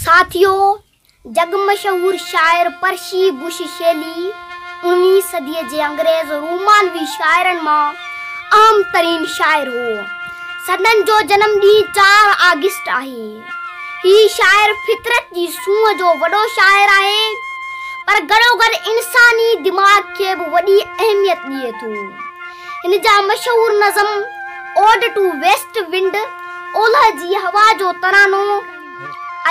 ساٿيو! جڳ مشهور شاعر پرشي بش شيلي اڻويهين صديء جي انگريز رومانوي شاعرن مان اهم ترين شاعر هو. سندن جو جنم ڏينهن چار آگسٽ آهي. هي شاعر فطرت جي سونهن جو وڏو شاعر آهي، پر گڏوگڏ انساني دماغ کي به وڏي اهميت ڏئي ٿو. هن جا مشهور نظم اوڊ ٽو ويسٽ ونڊ اولهه جي هوا جو ترانو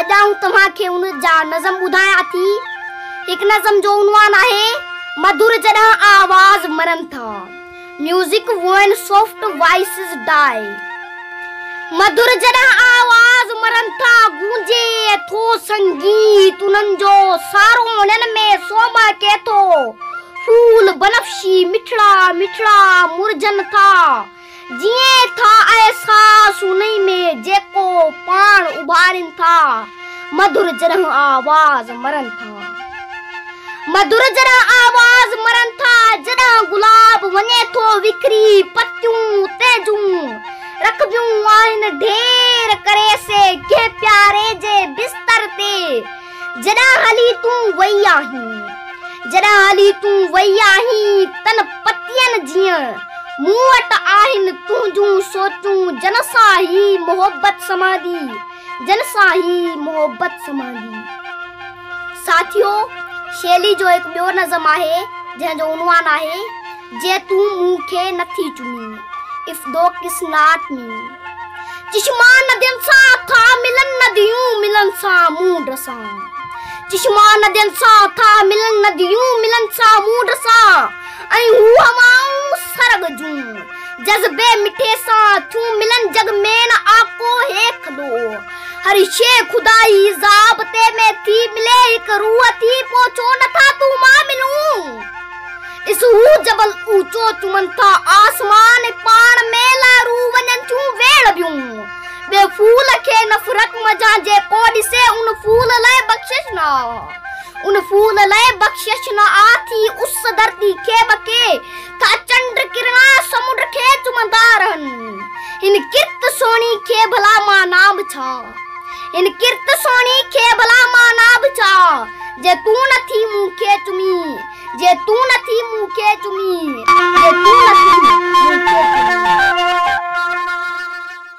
اڄ آئون توهان کي ان جا نظم ٻڌايان ٿي هڪ نظم جو عنوان آهي مڌر جڏهن آواز مرن ٿا music when soft voices die مڌر جڏهن آواز مرن ٿا گونجي ٿو سنگيت انهن جو سارو انهن ۾ سوما ڪي ٿو ڦول بنفشي مٺڙا مٺڙا مرجن ٿا جيئن ٿا احساس انهي ۾ جيڪو پاڻ اڀارين ٿا مڌر جرهن آواز مرن ٿا مڌر جرهن آواز مرن ٿا جڏهن گلاب وڃي ٿو وکري پتيون تيجون رکبيون آهن ڍير ڪري سي ڪنهن پياري جي بستر تي جڏهن هلي تون وئي آهين جڏهن هلي تون وئي آهين تن پتين جيئن مون وٽ آهن تنهنجون سوچون جن سان هي محبت سمهندي جن سان هي محبت سمهندي. ساٿيو، شيلي جو هڪ ٻيو نظم آهي، جنهن جو عنوان آهي، جي تون مون کي نه ٿي چمين، اف دو ڪس ناٽ مي. چشما ندين سان ٿا ملن نديون ملن سامونڊ سان. چشما ندين سان ٿا ملن نديون ملن سامونڊ سان ۽ هو هوائون سرڳ جون. جذبي مٺي سان ٿيون ملن جڳ ۾ نه آڪو هي کدو هر شي خدائي ضابطي ۾ ٿي ملي هڪ روح ٿي پو ڇو نه ٿا تون مان ملون ڏس هو جبل اوچو چمن ٿا آسمان پاڻ ۾ لا روح وڃن ٿيون ويڙهه ٻيون ٻي ڦول کي نه فرق مجان جي ڪو ڏسي ان ڦول لاء بخشش نه آ ان ڦول لاء بخشش نه آ ٿي اس ڌرتي کي ٻڪي ٿا چنڊ ڪرڻا سمنڊ کي چمندا رهن هن ڪرت سهڻي کي ڀلا معنيٰ به ڇا هن ڪرت سهڻي کي ڀلا معنيٰ به ڇا جي تون نه ٿي مون کي چمي جي تون نه ٿي مون کي چمي جي تون نه ٿي مون کي چمي